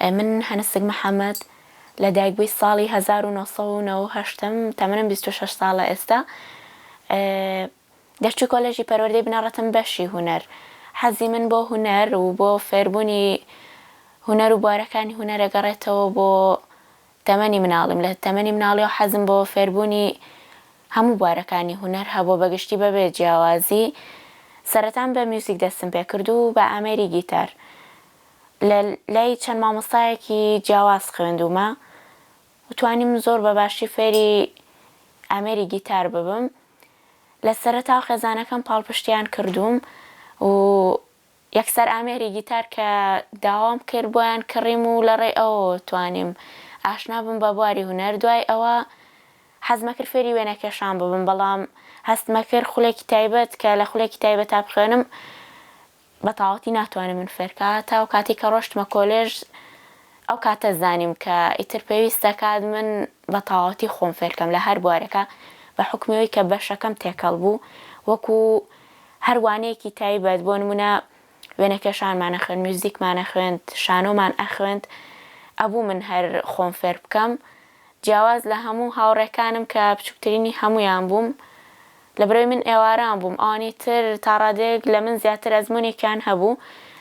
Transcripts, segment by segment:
من هەنسک محەمەد، لە دایکبووی ساڵی هەزار و نۆ سەد و نەوە و هەشت م، تەمەنم بیست و شەش ساڵە ئێستا. دەرچووی کۆلێژی پەروەردەی بنەڕەتم بەشی هونەر. حەزی من بۆ هونەر و بۆ فێربوونی هونەر و بوارەکانی هونەر ئەگەڕێتەوە بۆ تەمەنی مناڵیم، لە تەمەنی مناڵیەوە حەزم بۆ فێربوونی هەموو بوارەکانی هونەر هەبووە بە گشتی بە بێ جیاوازی، سەرەتام بە میوزیک دەستم پێ کرد و بە ئامێری گیتار لە لای چەند مامۆستایەکی جیاواز خوێندوومە و توانیم زۆر بە باشی فێری ئامێری گیتار ببم، لە سەرەتاوە خێزانەکەم پاڵپشتیان کردووم و یەکسەر ئامێری گیتار کە داوام کرد بۆیان کڕیم و لە ڕێی ئەوەوە توانیم ئاشنا بم بە بواری هونەر، دوای ئەوە حەزمەکرد فێری وێنەکێشان ببم بەڵام هەستمەکرد خولێکی تایبەت کە لە خولێکی تایبەتا بخوێنم بە تاوەتی ناتوانێت من فێرکا تا ئەو کاتی کە ڕۆشتمە کۆلێژ ئەو کاتە زانیم کە ئیتر پێویست دەکات من بە تاوەتی خۆم فێرکەم لە هەر بوارێکا بە حوکمی ئەوی کە بەشەکەم تێکەڵ بوو وەکو هەر وانەیەکی تایبەت بۆ نموونە وێنەکێشانمان ئەخوێند میوزیکمان ئەخوێند شانۆمان ئەخوێند ئەبوو من هەر خۆم فێر بکەم جیاواز لە هەموو هاوڕێکانم کە بچووکترینی هەموویان بووم لەبەرەوەی من ئێواران بووم ئەوانی تر تا ڕادەیەک لە من زیاتر ئەزمونێکیان هەبوو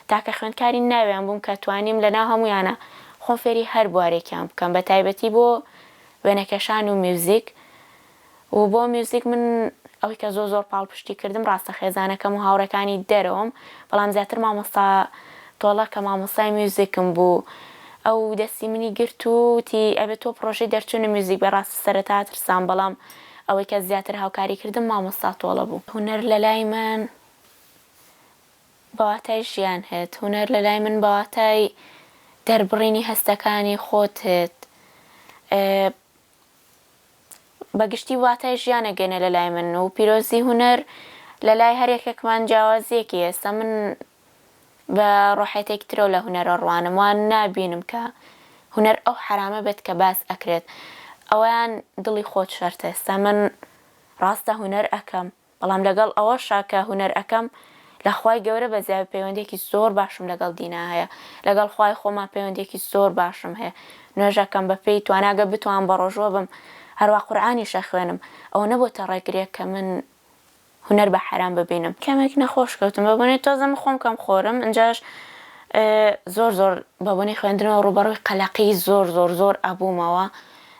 تاکە خوێندکاری ناویان بووم کە توانیم لەناو هەموویانە خۆم فێری هەر بوارێکیان بکەم بەتایبەتی بۆ وێنەکێشان و میوزیک و بۆ میوزیک من ئەوەی کە زۆر زۆر پاڵپشتی کردم ڕاستە خێزانەکەم و هاوڕێکانی دەرەوەم بەڵام زیاتر مامۆستا تۆڵە کە مامۆستای میوزیکم بوو ئەو دەستی منی گرت و وتی ئەبێ تۆ پڕۆژەی دەرچوونە میوزیک بێ ڕاستی سەرەتا ترسام بەڵام ئەوەی کە زیاتر هاوکاری کردم مامۆستا تۆڵە بوو. هونەر لە لای من بە واتای ژیان هێت هونەر لە لای من بە واتای دەربڕینی هەستەکانی خۆت هێت بە گشتی واتای ژیانە گەنە لە لای من و پیرۆزی هونەر لە لای هەر یەکێکمان جیاوازیەکی هێستا من بە ڕۆحێتێکی ترەوە لە هونەرە ڕوانم وان نابینم کە هونەر ئەو حەرامە بێت کە باس ئەکرێت ئەوەیان دڵی خۆت شەرتە ئێستا من ڕاستە هونەر ئەکەم بەڵام لەگەڵ ئەوەشا کە هونەر ئەکەم لە خوای گەورە بەزیاوی پەیوەندیەکی زۆر باشم لەگەڵ دینا هەیە لەگەڵ خوای خۆما پەیوەندیەکی زۆر باشم هەیە نوێژ ئەکەم بە پێی توانا گەر بتوانم بەڕۆژووە بم هەروا قورئانیش ئەخوێنم ئەوە نەبۆتە ڕێگرێک کە من هونەر بە حەرام ببینم. کەمێک نەخۆش کەوتم بە بۆنەی تۆزە من خۆم کەم خۆرم ئنجاش زۆر زۆر بە بۆنەی خوێندنەوە ڕووبەڕووی قەلەقی زۆر زۆر زۆر ئەبوومەوە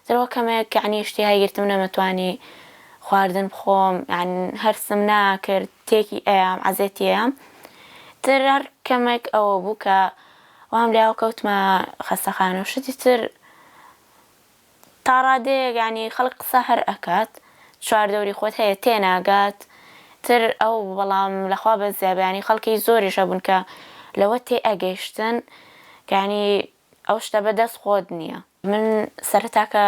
زۆر وە کەمێک یەعنی ئیشتیهای گرتم نەمەتوانی خواردن بخۆم یان هەرسم ناکرد تێکی ئەیام عەزێتی ئەیام تر هەر کەمێک ئەوە بوو کە وام لێ کەوتمە خەستەخانە و شتی تر تاڕادەیەک یانی خەڵک قسە هەر ئەکات چوار دەوری خۆت هەیە تێناگات تر ئەو بەڵام لەخوا بەزیابیانی خەڵکی زۆریش هەبوون کە لەوە تێ ئەگەیشتن کانی ئەو شتە بە دەست خۆت نیە. من سەرەتا کە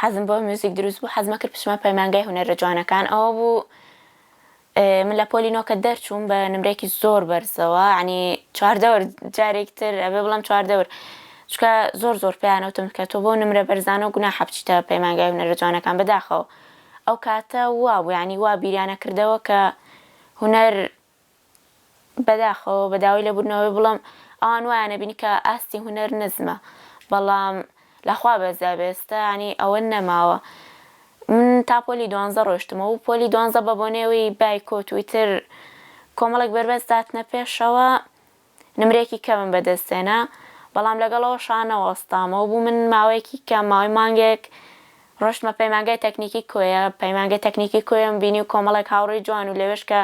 حەزم بۆ میوزیک دروست بوو حەزمە کرد بچمە پەیمانگای هونەرە جوانەکان ئەوە بوو من لە پۆلی نۆ کە دەرچووم بە نمرەیەکی زۆر بەرزەوە یانی چوار دەور جارێک تر ئەبێ بڵێم چوار دەور چونکە زۆر زۆر پێیان وتم کە تۆ بەو نمرە بەرزانە و گوناحە بچیتە پەیمانگای هونەرە جوانەکان بەداخەوە ئەو کاتە وا بوو یانی وا بیریان ئەکردەوە کە هونەر بەداخەوە بە داوای لێبوردنەوەی بڵێم ئەوان وایان ئەبینی کە ئاستی هونەر نزمە بەڵام لە خوا بەزدا بێ ئێستا یانی ئەوە نەماوە من تا پۆلی دوانزە ڕۆشتمە و پۆلی دوانزە بە بۆنەی ئەوەی بایکۆت و ئیتر کۆمەڵێک بەربەست داتنە پێشەوە نمرەیەکی کەمم بەدەست هێنا، بەڵام لەگەڵ ئەوەشا نەوەستامەوە، بوو من ماوەیەکی کەم، ماوەی مانگێک ڕۆشتمە پەیمانگای تەکنیکی کۆیە، پەیمانگەی تەکنیکی کۆیەم بینی و کۆمەڵێک هاوڕێی جوان و لەوێش کە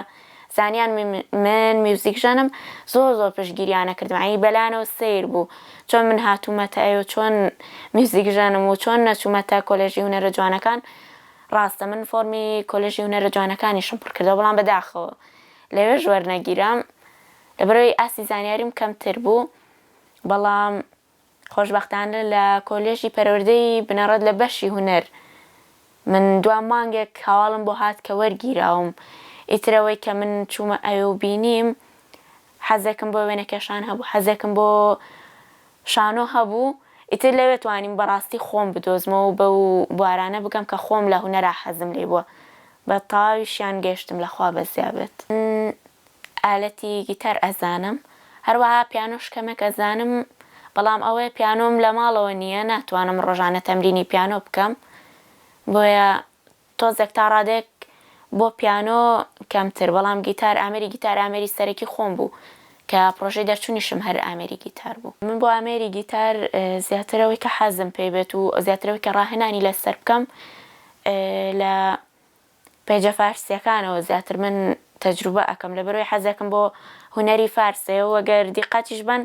زانیان من میوزیکژەنم، زۆر زۆر پشتگیریان نەکردم، یانی بەلایانەوە سەیر بوو چۆن من هاتوومەتە ئەوێ و چۆن میوزیکژەنم و چۆن نەچوومەتە کۆلێژی هونەرە جوانەکان، ڕاستە من فۆرمی کۆلێژی هونەرە جوانەکانیشم پڕکردەوە، بەڵام بەداخەوە لەوێش وەرنەگیرام. لەبەرئەوەی ئاستی زانیاریم کەمتر بوو، بەڵام خۆشبەختانە لە کۆلێژی پەروەردەی بنەڕەت لە بەشی هونەر من دوا مانگێک هەواڵم بۆ هات کە وەرگیراوم، ئیتر ئەوەی کە من چوومە ئەوێ و بینیم حەزێکم بۆ وێنەکێشان هەبوو، حەزێکم بۆ شانۆ هەبوو، ئیتر لەوێ توانیم بەڕاستی خۆم بدۆزمەوە و بەو بوارانە بگەم کە خۆم لە هونەرا حەزم لێی بووە، بە تەواویشیان گەیشتم لە خوا بەزیا بێت. ئالەتی گیتار ئەزانم هەروەها پیانۆش کەمێک ئەزانم بەڵام ئەوەیە پیانۆم لە ماڵەوە نییە ناتوانم ڕۆژانە تەمرینی پیانۆ بکەم بۆیە تۆزێک تا ڕادەیەک بۆ پیانۆ کەمتر بەڵام گیتار ئامێری گیتار ئامێری سەرەکی خۆم بوو کە پڕۆژەی دەرچوونیشم هەر ئامێری گیتار بوو. من بۆ ئامێری گیتار زیاتر ئەوەی کە حەزم پێی بێت و زیاتر ئەوەی کە ڕاهێنانی لەسەر بکەم لە پەیجە فارسیەکانەوە زیاتر من تەجروبە ئەکەم لەبەرئەوەی حەزێکم بۆ هونەری فارسەیە و گەر دیقەتیش بەن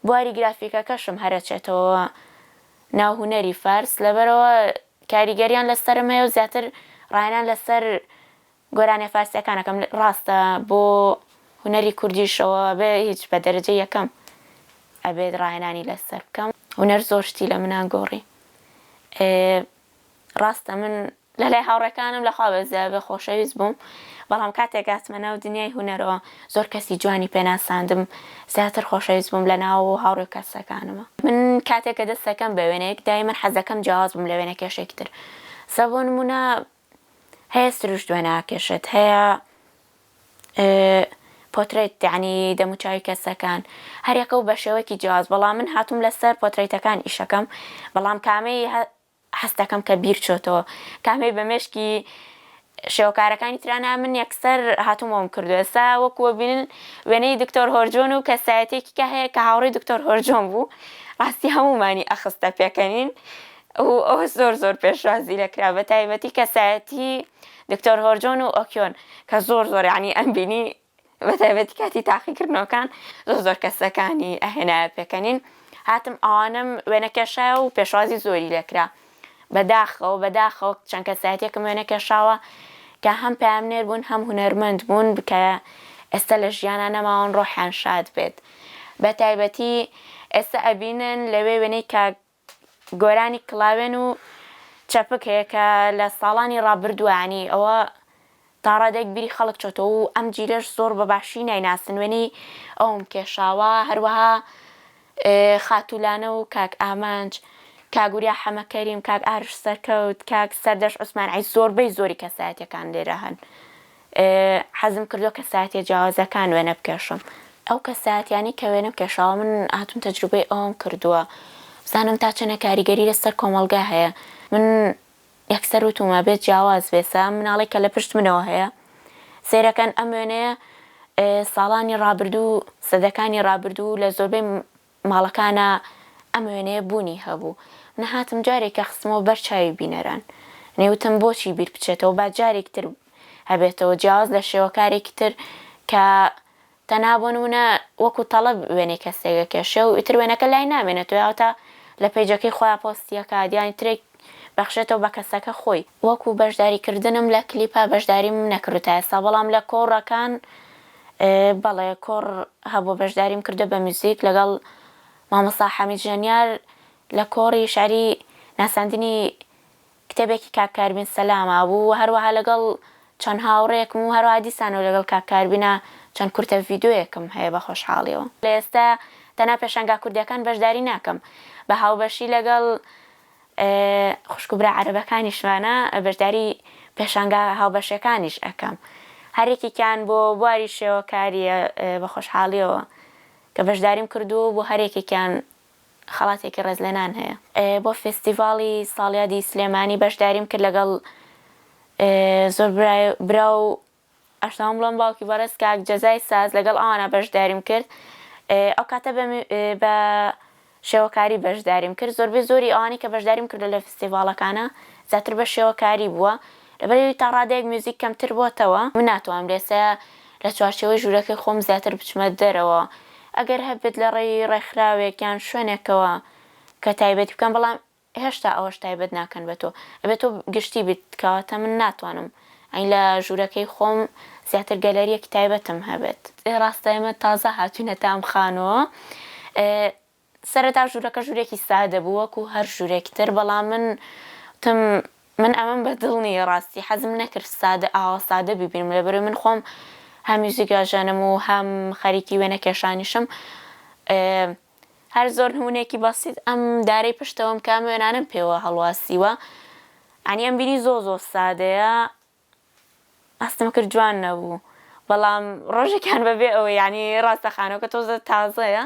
بواری گرافیکەکەشم هەر ئەچێتەوە ناو هونەری فارس لەبەرئەوە کاریگەریان لەسەرم هەیە و زیاتر ڕایانان لەسەر گۆرانیە فارسیەکان ئەکەم ڕاستە بۆ هونەری کوردیش ئەوە بێ هیچ بە دەرەجە یەکەم ئەبێت ڕاهێنانی لەسەر بکەم هونەر زۆر شتی لە منان گۆڕی ڕاستە من لە لای هاوڕێکانم لە خوا بە زیادە خۆشەویست بووم، بەڵام کاتێک هاتمە ناو دنیای هونەرەوە زۆر کەسی جوانی پێ ناساندم، زیاتر خۆشەویست بووم لە ناو و هاوڕێ و کەسەکانما. من کاتێک کە دەست دەکەم بە وێنەیەک دایمەن حەز دەکەم جیاواز بم لە وێنەکێشێکی تر سە بۆ نموونە هەیە سروشت وێنە ئاکێشێت هەیە پۆترەیت یانی دەموچاوی کەسەکان هەریەکەو بەشێوەکی جیاواز بەڵام من هاتوم لەسەر پۆترەیتەکان ئیشەکەم بەڵام کامەی هەستەکەم کە بیر چۆتەوە کامەی بە مێشکی شێوەکارەکانی ترا نا من یەکسەر هاتوم ئەوم کردو ئێستا وەکو وەبینن وێنەی دکتۆر هۆرجۆن و کەسایەتیەکی کە هەیە کە هاوڕی دکتۆر هۆرجۆن بوو ڕاستی هەمومانی ئەخستە پێکەنین ئەوە زۆر زۆر پێشوازی لێکرا بەتایبەتی کەسایەتی دکتۆر هۆرجۆن و ئۆکیۆن کە زۆر زۆر یانی ئەم بینی بە تایبەتی کاتی تاقی کردنەوەکان زۆر زۆر کەسەکانی ئەهێنایە پێکەنین هاتم ئەوانم وێنە کێشایە و پێشوازی زۆری لێکرا بەداخەوە بەداخەوە چەند کەسایەتێکم وێنە کێشاوە کە هەم پامنێر بوون هەم هونەرمەند بوون بکە ئێستا لە ژیانە نەماون ڕۆحیان شاد بێت بە تایبەتی ئێستا ئەبینن لەوێ وێنەی کاک گۆرانی کڵاوێن و چەپک هەیە کە لە ساڵانی ڕابردووە یانی ئەوە تا ڕادەیەک بیری خەڵک چۆتەوە و ئەم جیلەش زۆر بە باشی نایناسن وێنەی ئەوم کێشاوە هەروەها خاتوو لانە و کاک ئامانج کاک وریا حەمە کەریم کاک ئارش سەرکەوت کاک سەردەش عوسمان عەیس زۆربەی زۆری کەسایەتیەکان لێرە هەن حەزم کردووە کەسایەتیە جیاوازەکان وێنە بکێشم ئەو کەسایەتیانەی کە وێنەم کێشاوە من هاتووم تەجروبەی ئەوەم کردووە بزانم تا چەنە کاریگەری لەسەر کۆمەڵگا هەیە من یەکسەر وتومە بێت جیاواز بێسە مناڵی کە لە پشت منەوە هەیە سێرەکەن ئەم وێنەیە ساڵانی ڕابردوو سەدەکانی ڕابردوو لە زۆربەی ماڵەکانا ئەم وێنەیە بوونی هەبوو منە هاتم جارێکە خستمەوە بەر چاوی بینەران نی وتم بۆچی بیر بچێتەوە با جارێک تر هەبێتەوە جیاواز لە شێوەکارێکی تر کە تەنها بۆ نمونە وەکو تەڵەب وێنەی کەسێک ئەکێشێ و ئیتر وێنەکە لای نامێنێت و یاوەتا لە پەیجەکەی خۆیا پۆستی ئەکات یانی ترێک بەخشێتەوە بە کەسەکە خۆی. وەکو بەشداری کردنم لە کلیپا بەشداریم نەکردوە تا ئێستا بەڵام لە کۆڕەکان بەڵێ کۆڕ هەبوە بەشداریم کردوە بە میوزیک لەگەڵ مامۆستا حەمید ژەنیار لە کۆڕی شعری ناساندنی کتێبێکی کاک کاربین سەلاما بوو وە هەروەها لەگەڵ چەند هاوڕێکم و هەروەها دیسانەوە لەگەڵ کاک کاربینا چەند کورتە ڤیدۆیەکم هەیە بە خۆشحاڵیەوە لە ئێستا تەنها پێشانگا کوردیەکان بەشداری ناکەم بە هاوبەشی لەگەڵ خوشک و برا عەرەبەکانیشمانە بەشداری پێشانگا هاوبەشەکانیش ئەکەم هەر یەکێکیان بۆ بواری شێوەکاریە بە خۆشحاڵیەوە کە بەشداریم کردووە و بۆ هەر یەکێکیان خەڵاتێکی ڕێزلێنان هەیە. بۆ فێستیڤاڵی ساڵیادی سلێمانی بەشداریم کرد لەگەڵ زۆر برا و ئەشتەوام بڵێم باوکی بەڕێز کاک جەزای ساز لەگەڵ ئەوانە بەشداریم کرد ئەو کاتە بە بە شێوەکاری بەشداریم کرد زۆربەی زۆری ئەوانەی کە بەشداریم کردووە لە فستیڤاڵەکانا زیاتر بە شێوەکاری بووە لەبەر ئەوی تا ڕادەیەک میوزیک کەمتر بۆتەوە من ناتوانم لێسە لە چوارچێوەی ژوورەکەی خۆم زیاتر بچمە دەرەوە ئەگەر هەبێت لە ڕێی ڕێکخراوێک یان شوێنێکەوە کە تایبەتی بکەم بەڵام هێشتا ئەوەش تایبەت ناکەن بە تۆ ئەبێ تۆ گشتی بیت کەواتە من ناتوانم ئەی لە ژوورەکەی خۆم زیاتر گەلەریەکی تایبەتم هەبێت. ئێ ڕاستە ئێمە تازە هاتوینەتە ئەم خانوە سەرەتا ژوورەکە ژوورێکی سادە بوو وەکو هەر ژوورێکی تر بەڵام من وتم من ئەمەم بە دڵ نیە ڕاستی حەزم نەکرد سادە ئاوا سادە بیبینم لەبەرەوەی من خۆم هەم میوزیک ئەژەنم و هەم خەریکی وێنە کێشانیشم ئێ هەر زۆر نمونەیەکی بەسیت ئەم دارەی پشتەوەم کام وێنانەم پێوە هەڵواسیوە یانی ئەم بیری زۆر زۆر سادەیە ئەستم کرد جوان نەبوو بەڵام ڕۆژێکیان بەبێ ئەوە یانی ڕاستە خانەکە تۆزە تازەیە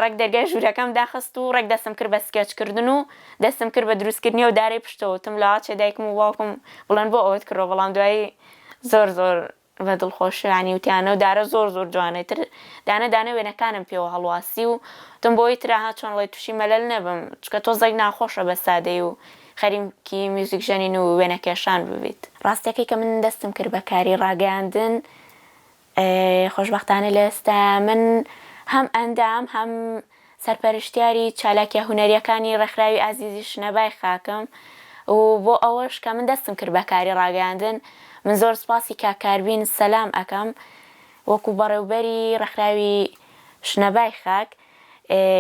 ڕێک دەرگای ژوورەکەم داخست و ڕێک دەستم کرد بە سکێچکردن و دەستم کرد بە دروستکردنی و دارەی پشتەوەتم لە ئاچێ دایکم و باوکم بڵێن بۆ ئەوەت کردەوە بەڵام دوایی زۆر زۆر ڤە دڵخۆشیانی وتیانە و دارە زۆر زۆر جوانە ئیتر دانە دانە وێنەکانم پێوە هەڵواسی و وتم بۆی ترا ها چۆن ڵێی توشی مەلەل نەبم چونکە تۆزێک ناخۆشە بە سادەی و خەریکی میوزیک ژەنین و وێنە کێشان ببیت. ڕاستەکەی کە من دەستم کرد بە کاری ڕاگەیاندن خۆشبەختانە لە ئێستا من هەم ئەندام هەم سەرپەرشتیاری چالاکیە هونەریەکانی ڕێکخراوی ئازیزی شنە بای خاکم و بۆ ئەوەش کە من دەستم کرد بە کاری ڕاگەیاندن من زۆر سوپاسی کاک کاربین سەلام ئەکەم وەکو بەڕێوبەری ڕێکخراوی شنە بای خاک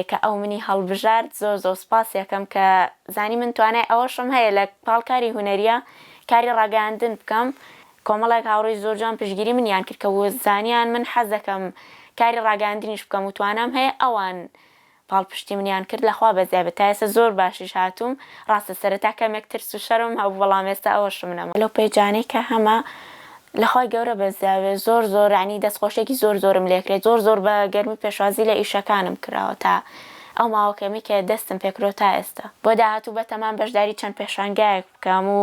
کە ئەو منی هەڵبژارد زۆر زۆر سوپاسی ئەکەم کە زانی من توانای ئەوەشم هەیە لە پاڵ کاری هونەریە کاری ڕاگەیاندن بکەم کۆمەڵێک هاوڕێی زۆر جوان پشتگیری منیان کرد کە وزانیان من حەز دەکەم کاری ڕاگەیاندنیش بکەم وتوانام هەیە ئەوان پاڵپشتی منیان کرد لەخوا بەزیای بێت تا ئێستا زۆر باشیش هاتووم ڕاستە سەرەتا کەمێک ترس و شەرمم هەبوو بەڵام ئێستا ئەوە شمن ئەمە لەو پەیجانەی کە هەمە لەخوای گەورە بەزیا بێت زۆر زۆر یانی دەست خۆشیەکی زۆر زۆرم لێکرێت زۆر زۆر بە گەرمی پێشوازی لە ئیشەکانم کراوە تا ئەو ماوە کەمەی کە دەستم پێکرۆ تا ئێستا بۆ داهاتوو بەتەمام بەشداری چەند پێشانگایەک بکەم و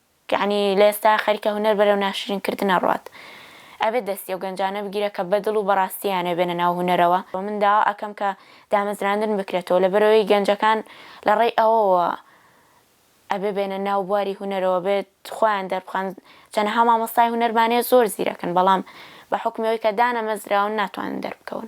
یەعنی لە ئێستا خەریکە هونەر بەرەو ناشرین کردن ئەڕوات ئەبێت دەستی ئەو گەنجانە بگیرێت کە بەدڵ و بەڕاستی یانەوێ بێنە ناو هونەرەوە وە من داوا ئەکەم کە دامەزراندن بکرێتەوە لەبەرئەوەی گەنجەکان لە ڕێی ئەوەوە ئەبێ بێنە ناو بواری هونەرەوە بێت خۆیان دەربخەن چەنەها مامۆستای هونەرمان هەیە زۆر زیرەکن بەڵام بە حوکمی ئەوەی کە دانەمەزراون ناتوانن دەربکەون.